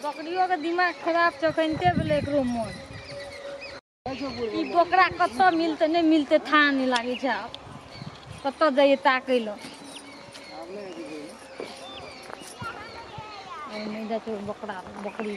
बकरियोके दिमाग खराब छै कनिते भेलै एकरो मोन ई बकरा कतऽ मिलतै नहि मिलतै थाह नहि लागै छै आब कतऽ जाइए ताकै लए आइ नहि जाइ छै बकरा बकरी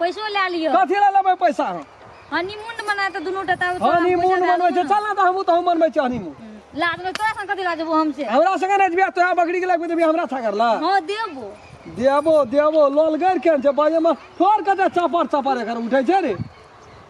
पैसो लए लियो कथी लए लेबै पैसा हम हनीमून मना तऽ दुनू टा ताऊ हनीमून मनबै छै चल ना तऽ हमहूँ तहूँ मनबै छै हनीमून लाज में तोरा संग कथी लाजबो हमसे हमरा संगे नहि जेबै तोरा बकरी के लगबै देबै हमरा थाकर ला हां देबो देबो देबो लोलगर केहन छै बाजेमे ठोर कते चपर चपर एकर उठै छै रे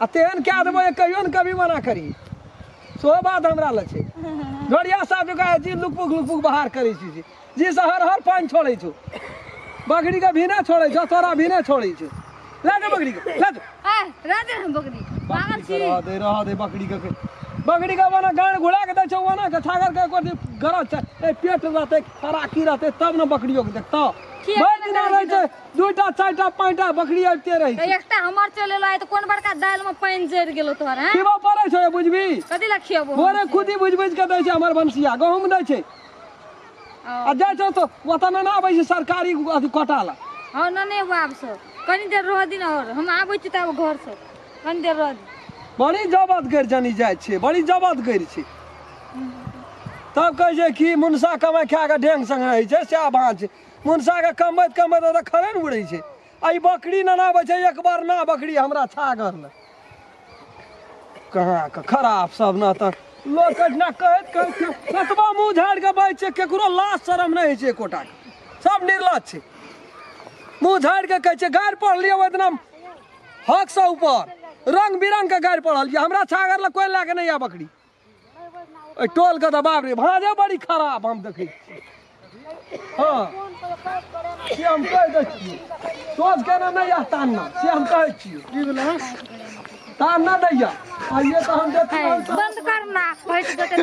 आ तेहन कए देबो जे कहियो ने कभी मना करी सेहो बात हमरा लग छै घड़िया साहब जकाँ जी लुकपुक लुकपुक बहार करै छी जी जी से हर हर पानि छोड़ै छौ बकरीके भीने छोड़ै छौ तोरा भीने छोड़ै छौ लए जाउ बकरीके लए जाउ आय राधे हम बकरी पागल छी रह दे रह दे बकरी के बकरी के वना गाड़ घुला के दै छौ वना के छागर के कोती गरज छै ए पेट रहते खराकी रहते तब ने बकरियो के देखतो किया भरि दिना रहै छै दूटा चारिटा पाँचटा बकरी अबिते रहै छै एकटा हमर चले ला तऽ कोन बड़का दाल में पानि जरि गेलो तोहर हैं खिबो पड़ै छै बुझबी कथी ला खियेबो भोरे खुदी बुझ बुझ के दै छै हमर भनसिया गहूँम दै छै आ जाइ छौ तऽ ओतऽ ने आबै छै सरकारी अथी कोटा लए हँ न नहि एबो आब सो कनी देर रह दिन और हम आबै छी तऽ आब घर से कनी देर रह दिन बड़ी जबत गैर जानी जाइ छै बड़ी जबत गैर छै तब कहै छै कि मुनसा कमाइ खा कऽ ढेंग संग रहै छै सएह भाँज मुनसाके कमैत कमैत ओतऽ खड़े ने उड़ै छै आ ई बकरी ननाबै छै एक बार ना बकरी हमरा छागर लए कहाँ के खराब सब ना तऽ लोक अहिना कहैत कहैत कतबा मुँह झाड़ि कऽ बाजि छै केकरो लाज शरम नहि होइ छै एकोटाके सब निर्लज छै मुँह झाड़ि कऽ कहै छै गाड़ि पढ़लियै ओहि दिना हकसँ ऊपर रंग बिरंग के गाड़ि पढ़लियै हमरा छागर लए कोइ लए कऽ नहि आ बकरी एहि टोलके तऽ बाप रे भाँजे बड़ी खराब हम देखै छियै हँ से हम कहि दै छियै सोच केना नहि यऽ तान्ना से हम कहै छियै की भेलै तान्ना नहि यऽ आइए तऽ हम देखै बंद करना पैस देते